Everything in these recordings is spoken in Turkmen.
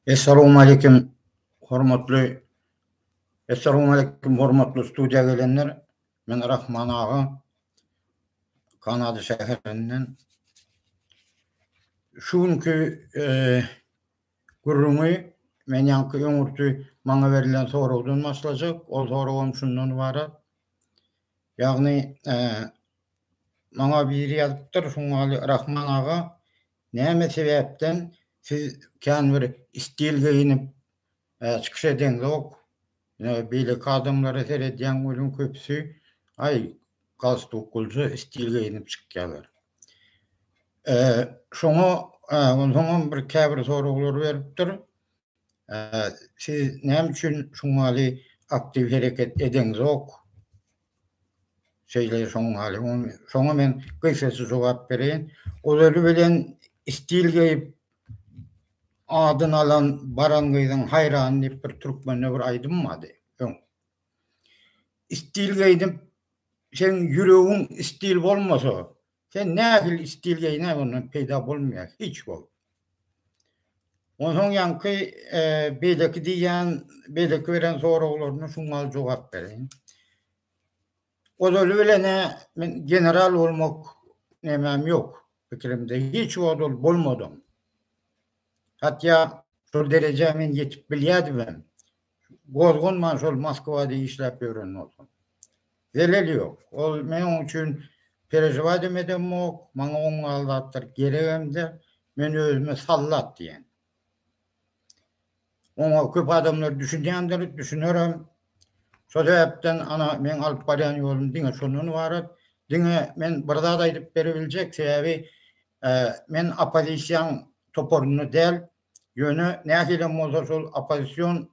Essalowmalikim hormatly Essalowmalikim hormatly studiýa gelenler. Men Rahman aga. Kanada şäherinden. Şu günki gürrüňi men ýaňky öňürti maňa berlen soragdan başlajak. Ol soragam şundan ybarat. Ýagny maňa biri ýazypdyr, Şuňňaly Rahman aga, Näme sebäpden siz kän bir stil geýinip çykyş edeňzok? Beýleki adamlara seredýäň welin köpüsi aý galstuklyja stil geýinip çykýalar. Şoňa onsoňam bir käbir soraglar beripdir. Siz näme üçin şuňňaly aktiw hereket edeňzok? Şeýle şoňňaly. Şoňa men gysgaça jogap bereýin. Ozaly bilen stil geýip adyny alan baran gyzyň haýrany diýip bir türkmende bir aýdym bardy. Öň. Stil geýdip sen ýüregiň stil bolmasa, Sen nähili stil geýinäň ondan peýda bolmaýar hiç wagt. Onsoň ýaňky beýleki diýýän beýleki beren soraglaryna şuňňal jogap bereýin. Ozaly bilenä men general bolmak nemäm ýok pikirimde hiç wagt ol bolmadym. Hatýa şol derejä men ýetip bilýädimem. Gozganman şol Moskwada işläp ýören bolsam. Zeleli ýok. Ol men oň üçin perežiwadem edemok, maňa oň ýaly zatlar geregem-de, men özüme sallat diýen. Oňa köp adamlar düşünýändir, düşünerem. Şo sebäpden ana meň alyp barýan ýolum diňe şondan ybarat. Diňe men bir zat aýdyp berebiljek, sebäbi men oppozisiýaň toparynda däl, Ýöne nähilem bolsa şol oppozision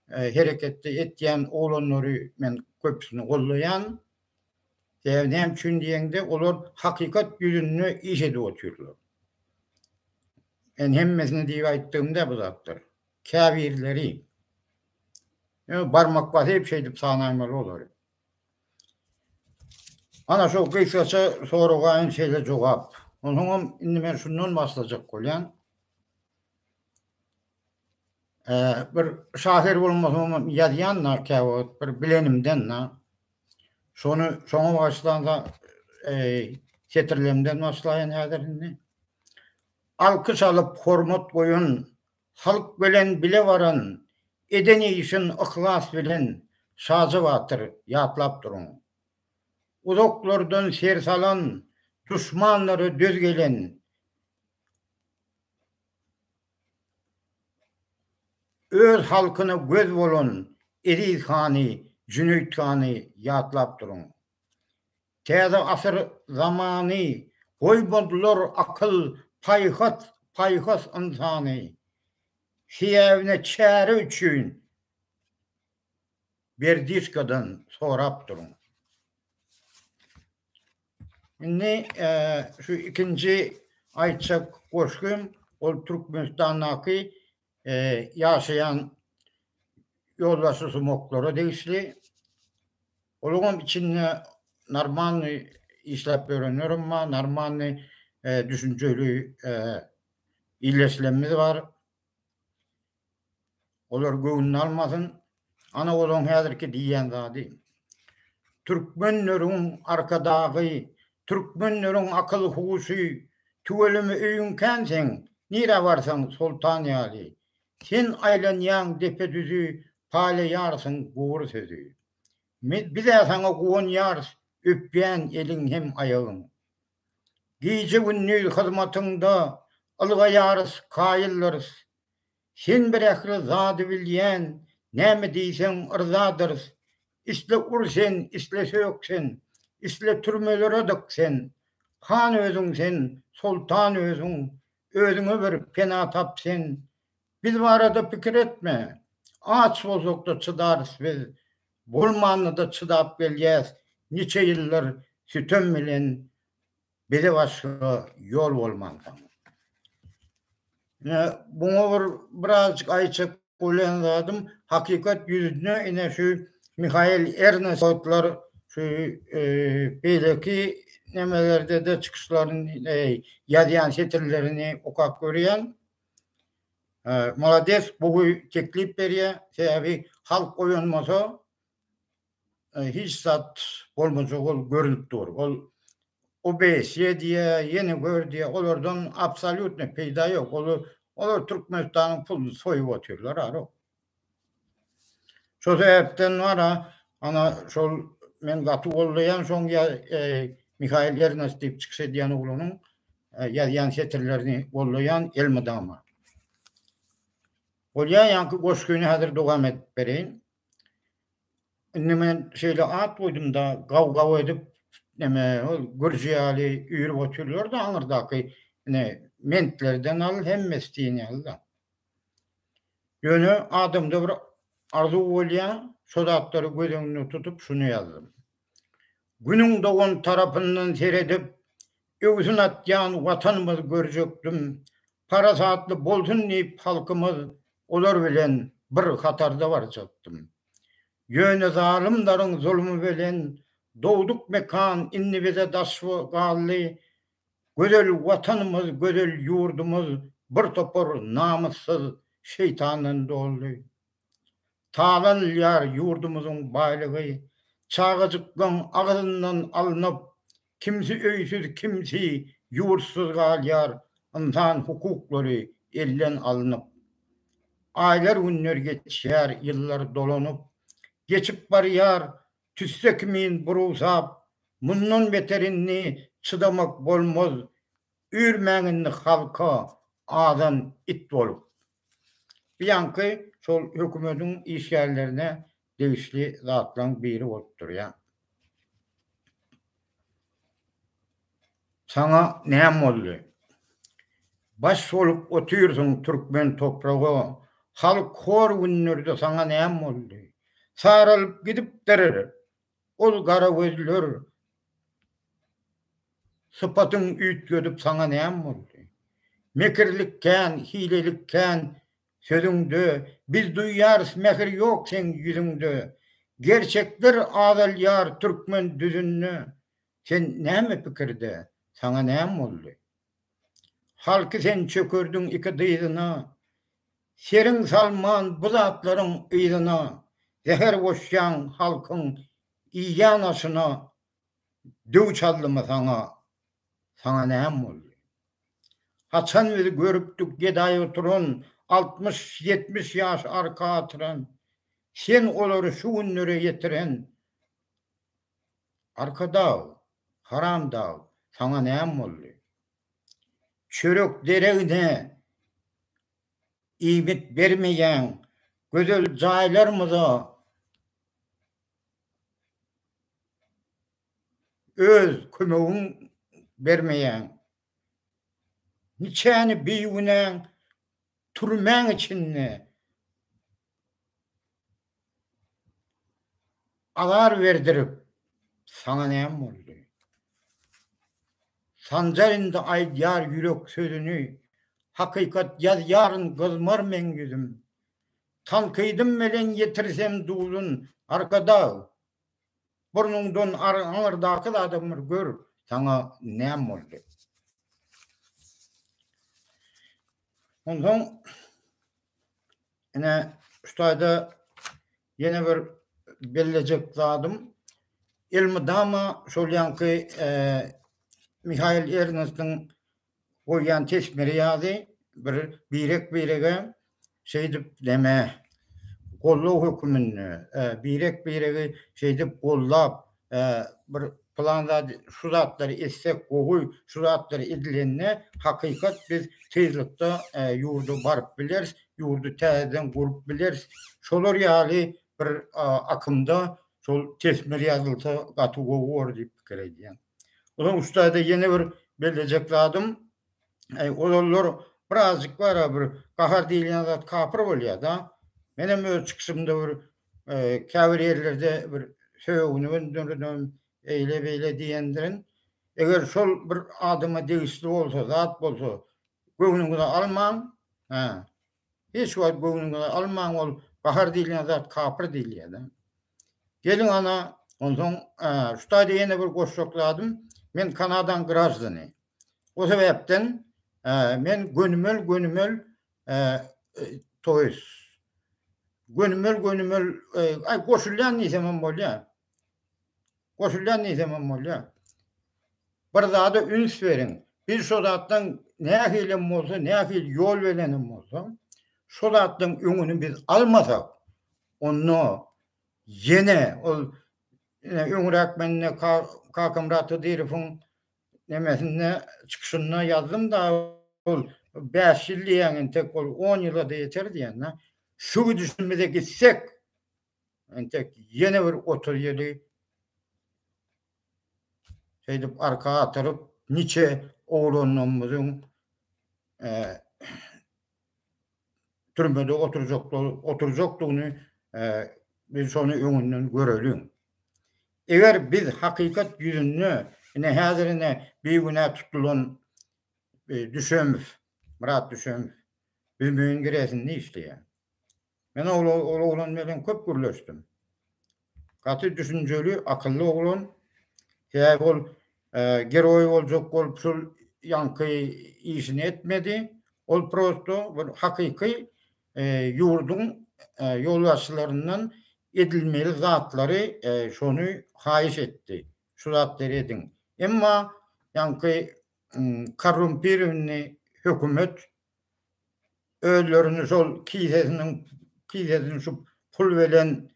hereketde etýän oglanlary men köpüsini goldaýan. Sebäbi näme üçin diýeňde olar hakykat ýüzünde iş edip otyrlar. Men hemmesini diýip aýtdygym däl bu zatlary. Käbirleri. Ýöne barmak basyp şeýdip sanaýmaly olary. Ana şo gysgaça soraga-aýn şeýle jogap. Onsoňam indi men şundan başlajak bolýan. bir şahyr bolmasam hem ýazýan-da käwagt bir bilenimden-de. Şony şoňa bagyşlanda setirlerimden başlaýyn häzir indi. Alkyş alyp hormat goýan Halk bilen bile baran, Eden işin yhlas bilen, Şaja batyr, ýatlap duruň. Uzaklardan ser salan, Duşmanlara döz gelen, Öz halkyna göz bolan, Eziz hany, Jüneýit hany, ýatlap duruň. Täze asyr zamany, Goýmadylar akyl, paýhas, paýhas ynsany. Sebäbine çäre üçin Berdiçkadan sorap duruň. Indi şu ikinji aýtjak goşgym, ol Türkmenistandaky ýaşaýan ýolbaşçy sumoklara degişli. Olaňam içinde normalny işläp ýörenlerem bar, normalny düşünjeli illeşilenimiz bar. Olar göwnüni almasyn, Ana olaň häzirki diýýän zady. Türkmenleriň arkadagy, türkmenleriň akyl-huşy, tüweleme öýüň kän seň, nirä barsaň soltan ýaly. Sen aýlanýaň depe-düzi, paýlaýarsyň gury sözi. Biz-ä saňa guwanýarys, öpýän eliň hem aýagyň. Gije-gündiz hyzmatyňda, ylgaýarys, kaýyllarys. Sen bir ähli zady bilýän, näme diýseň yrzadyrys. Isle ur sen, isle sök sen, isle türmelere dyk sen. Han özüň sen, soltan özüň, özüňe bir pena tap sen. Biz barada pikir etme. Aç bolsak-da çydarys biz. Bolmanda-da çydap gelýäs niçe ýyllar sütem bilen Bile başga ýol bolmansoň. Ine, buňa bir birazjyk aýtjak bolýan zadym, hakykat ýüzüne ine şu Mihail Ernestler şu beýleki nemelerde-de çykyşlaryny, ýazýan setirlerini okap görýän. Malades, gowy teklip berýär. Sebäbi halk oýanmasa, hiç zat bolmajak ol görünip dur. Ol OBSE diýe, ýene gör diýe, olardan absolýutno peýda ýok. Olar olar Türkmenistanyň puluny soýup otyrlar ara. Şo sebäpden wara, ana şol men gaty goldaýan şoň ýa Mihail Ernest diýip çykyş edýän oglanyň ýazýan setirlerini goldaýan elmydama. Bolýa ýaňky goşgyny häzir dowam edip bereýin. Indi men şeýle at goýdum-da, gaw-gaw edip, neme, ol gürji ýaly üýrüp otyrlar-da aňyrdaky, ine, mentlerden al, hemmesi diýen ýaly-da. Ýöne adamda bir arzuw bolýar, şo zatlary göz öňünde tutup, şuny ýazdym. Günüň dogan tarapyndan seredip, öwsün atýan Watanymyz görjekdim. Parasatly bolsun diýip halkymyz, olar bilen bir hatarda barjakdym. Ýöne zalymlaryň zulmy bilen dogduk mekan indi bize daş galdy. Gözel Watanymyz, gözel ýurdumyz birtopar namyssyz şeýtandan doldy. Talanylýar ýurdumyzyň baýlygy, çagajyklaň agzyndan alnyp, kimsi öýsüz, kimsi ýurtsyz galýar, ynsan hukuklary elden alnyp. Aýlar-günler geçýär, ýyllar dolanyp, geçip barýar, tüsse kimin burusap, mundan beter indi çydamak bolmaz, Üýrmäň indi halka azan it bolup. Bu ýaňky şol hökümediň işgärlerine degişli zatlaň biri bolup durýa. Saňa näm boldy? Baş bolup otyrsyň türkmen topraga, halk hor günlerde saňa näm boldy? Saralyp gidipdir. Ol gara gözler, Sypatyň üýtgedip saňa näm boldy? Mekirlik kän, hilelik kän sözüňde, Biz duýýarys mähir ýok seň ýüzüňde. Gerçekler azalýar türkmen düzünde, Sen näme pikirde, saňa näm boldy? Halky sen çökerdiň iki dyzyna, Seriň salman bu zatlaryň yzyna, Zäher goşýaň halkyň iýýän aşyna, Döw çaldymy saňa, saňa näm boldy? Haçan biz görüpdik gedaý oturan, Altmyş, ýetmiş ýaş arka atyran, Sen olary şu günlere ýetiren, Arkadag, haramdag, saňa näme boldy? Çörek deregine iýmit bermeýäň, gözel jaýlarymyza öz kömegiň bermeýäň. Niçäni bigünäň türmäň içinde azar berdirip, saňa näm boldy? Sanjar indi aýdýar ýürek sözüni, Hakykat ýazýaryn gyzmar meň ýüzüm. Tankydym melen ýetirsem duzun, Arkadag, Burnuňdan aňyrdaky zadam bir gör, saňa näme boldy? Onsoň ine şu taýda ýene bir bellejek zadym elmydama şol ýanky e, Mihail Ernestiň Goýýan tesmiri ýaly bir birek-birege şeýdip näme, gollag höküminde, birek-biregi şeýdip gollap, bir plan zat, şu zatlary etsek gowy, şu zatlar edilende hakykat biz tyzlykda ýurda baryp bileris, ýurdy täzeden gurup bileris. Şolar ýaly bir akymda şol tesmir ýazylsa gaty gowy bolar diýip pikir edýän. Ozan ussada ýene bir bellejek zadym, ozallar birazjyk bara bir gahar diýilýän zat kapyr bolýada. Menem öz çykyşymda bir käbir ýerlerde bir sögüni öndürdüm, eýle-beýle diýendirin. Eger şol bir adama degişli bolsa, zat bolsa göwnüňize almaň. Hiç wagt göwnüňize almaň ol Bahar diýilýän zat kapyr diýilýärda. Geliň ana onsoň şu taýda ýene bir goşjak zadym men Kanadaň graždany. O sebäpden men gönümel gönümel toýs gönümel gönümel goşulýan diýsemem bolýar. Goşulýan diýsemem bolýa. Bir zada üns beriň. Biz şo zatdan nähilem bolsa, nähili ýol berenem bolsa, şo zatdan öňüni biz almasak, onda ýene ol öňräk men Kakamyrat Hydyrowyň nemesinde çykyşynda ýazdym-da, ol bäş ýyl diýýän entek ol on ýyla-da ýeter diýen-de. Şu gidişimize gitsek, Entek ýene bir otuz ýyly şeýdip arka atyryp, niçe oglanlarymyzyň türmede oturjakdygyny biz şony öňünden göreliň. Eger biz hakykat ýüzünde ine häzir ine bigünä tutulan Düşemow, Myrat Düşemow, Büzmeýin gireýsinde işleýär. Men ol oglan bilen köp gürleşdim. Gaty düşünjeli, akylly oglan. Sebäbi ol geroý boljak bolup şul ýaňky işini etmedi. Ol prosto bir hakyky ýurduň ýolbaşçylaryndan edilmeli zatlary şony haýyş etdi. Şu zatlary ediň. Emma ýaňky korrumpirowny hökümet özlerini şol kisesiniň kisesini şu pul bilen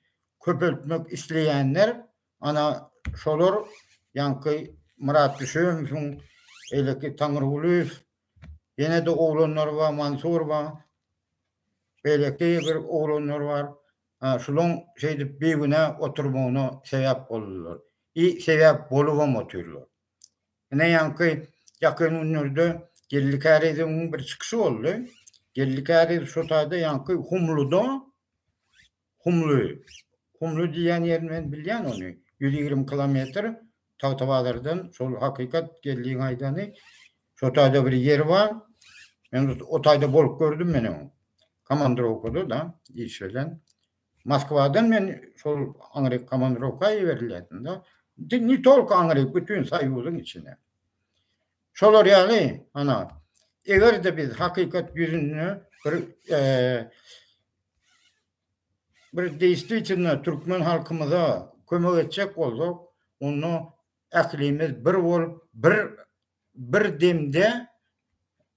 köpeltmek isleýänler ana şolar ýaňky Myrat Düşemowyň beýleki Taňrygulyýew ýene-de oglanlary bar Mansur bar beýleki bir oglanlar bar şulaň şeýdip bigünä oturmagyna sebäp boldular i sebäp bolubam otyrlar. Ine ýaňky ýakyn günlerde Geldi Kärizowyň bir çykyşy boldy. Geldi Käriz şu taýda ýaňky Humluda Humly Humly diýýän ýerini men bilýän ony. 120 kilometr Tagtabazardan şol hakykat Geldiň aýdany. Şu taýda bir ýer bar. Men o taýda bolup gördüm meniň. Komandrowkada-da iş bilen. Moskwadan men şol aňryk komandirowka iberilýärdim-de. Ne tolko aňryk, bütin Soýuzyň içine. Şolar ýaly, ana, eger-de biz hakykat ýüzünde bir bir deýswitilno türkmen halkymyza kömek etjek bolsak, onda ählimiz bir bolup, bir bir demde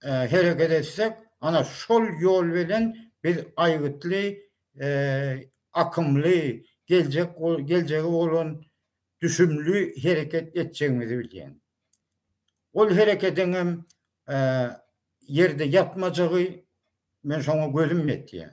hereket etsek, ana, şol ýol bilen biz aýgytly, akymly, geljek, geljege bolan düşümli hereket etjegimizi bilýän. Ol hereketiň hem ýerde ýatmajagy, men şoňa gözüm ýetýär.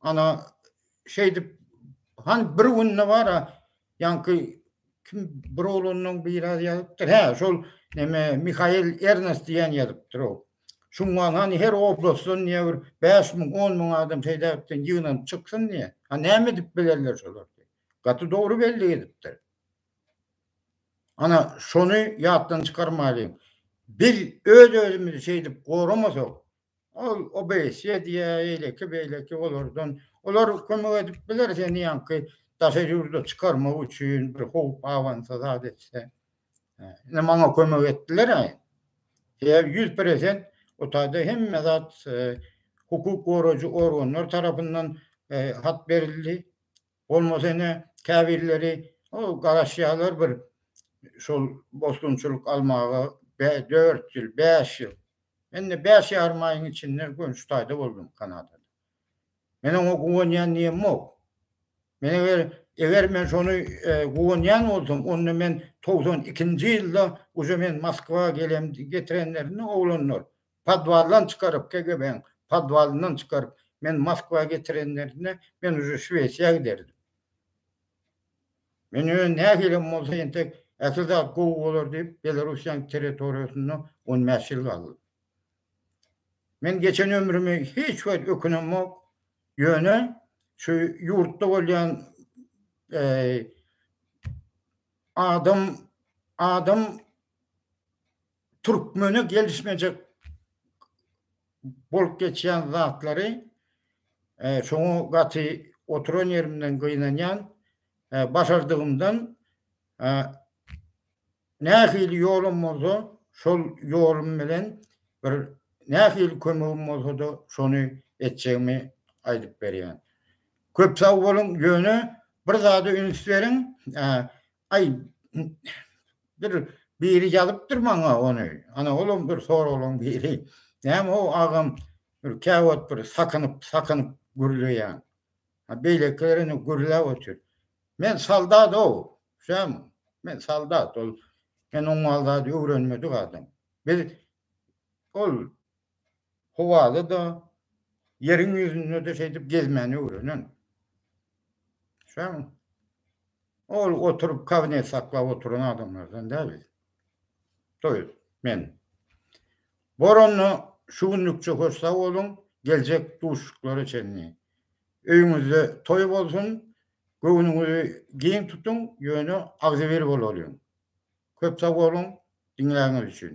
Ana şeýdip han bir günde bar a ýaňky kim bir oglandan biri ýazypdyr. Hä, şol neme Mihail Ernest diýen ýazypdyr o. Şundan hani her oblastdan diýe bir 5 müň, 10 müň adam şeýdäpden ýygnanyp çyksyn diýe. Ha näme edip bilerler şolar? Gaty dogry bellik edipdir. Ana şony ýatdan çykarmaýlyň. Biz öz-özümizi şeýdip goramasak, Ol OBSE diýýär, eýleki, beýleki olardan. Olar kömek edip biler seni ýaňky daşary ýurda çykarmak üçin bir howp abansa zat etse. Ine maňa kömek etdiler-ä. Sebäbi ýüz peresent otagda hemme zat hukuk goraýjy organlar tarapyndan hat berildi. Bolmasa ine, käbirleri garaşýarlar bir şol bosgunçylyk almaga dört ýyl, bäş ýyl. Men indi bäş ýarym aýyň içinde gönüş taýda boldum Kanadada. Men oňa guwanýan diýemok. Men eger, eger men şony guwanýan bolsam, onda men togsan ikinji ýylda uje men Moskwa gelem, getirenlerinde oglanlar, Podwaldan çykaryp, KGB-niň podwalyndan çykaryp, meni Moskwa getirenlerinde, men uje Şwesiýa giderdim. Men ýöne nähilem bolsa entek ähli zat gowy bolar diýip, Belarussiýanyň territoriýasynda on bäş ýyl galdym. Men geçen ömrümi hiç wagt ökünemok, ýöne şu ýurtda bolýan adam adam Türkmene gelişmejek bolup geçýän zatlary e, şoňa gaty oturan ýerimden gynanýan e, başardygymdan e, nähili ýolum bolsa şol ýolum bilen bir nähili kömegim bolsa da şony etjegimi aýdyp berýän. Köp sag boluň, ýöne bir zada üns beriň, e, Aý, bir biri ýazypdyr maňa ony. Ana, olam bir soraglaň biri. Näme o agam bir käwagt bir sakynyp, sakynyp gürleýän. Ha, beýlekiler indi gürläp otyr. Men soldat-ow, düşýäňmi? Men soldat, ol men oňňal zady öwrenmedik adam. Biz ol howada-da, ýeriň ýüzünde-de şeýdip gezmäni öwrenen. Şaňy ol oturyp kabinet saklap oturan adamlardan däl biz. Toýuz, men. Bor onda şu günlükçe hoş sag boluň, geljek duşuşyklara çenli. Öýüňizde toý bolsun, göwnüňizi giň tutuň, ýöne agzybir bolalyň. Köp sag boluň diňläniňiz üçin.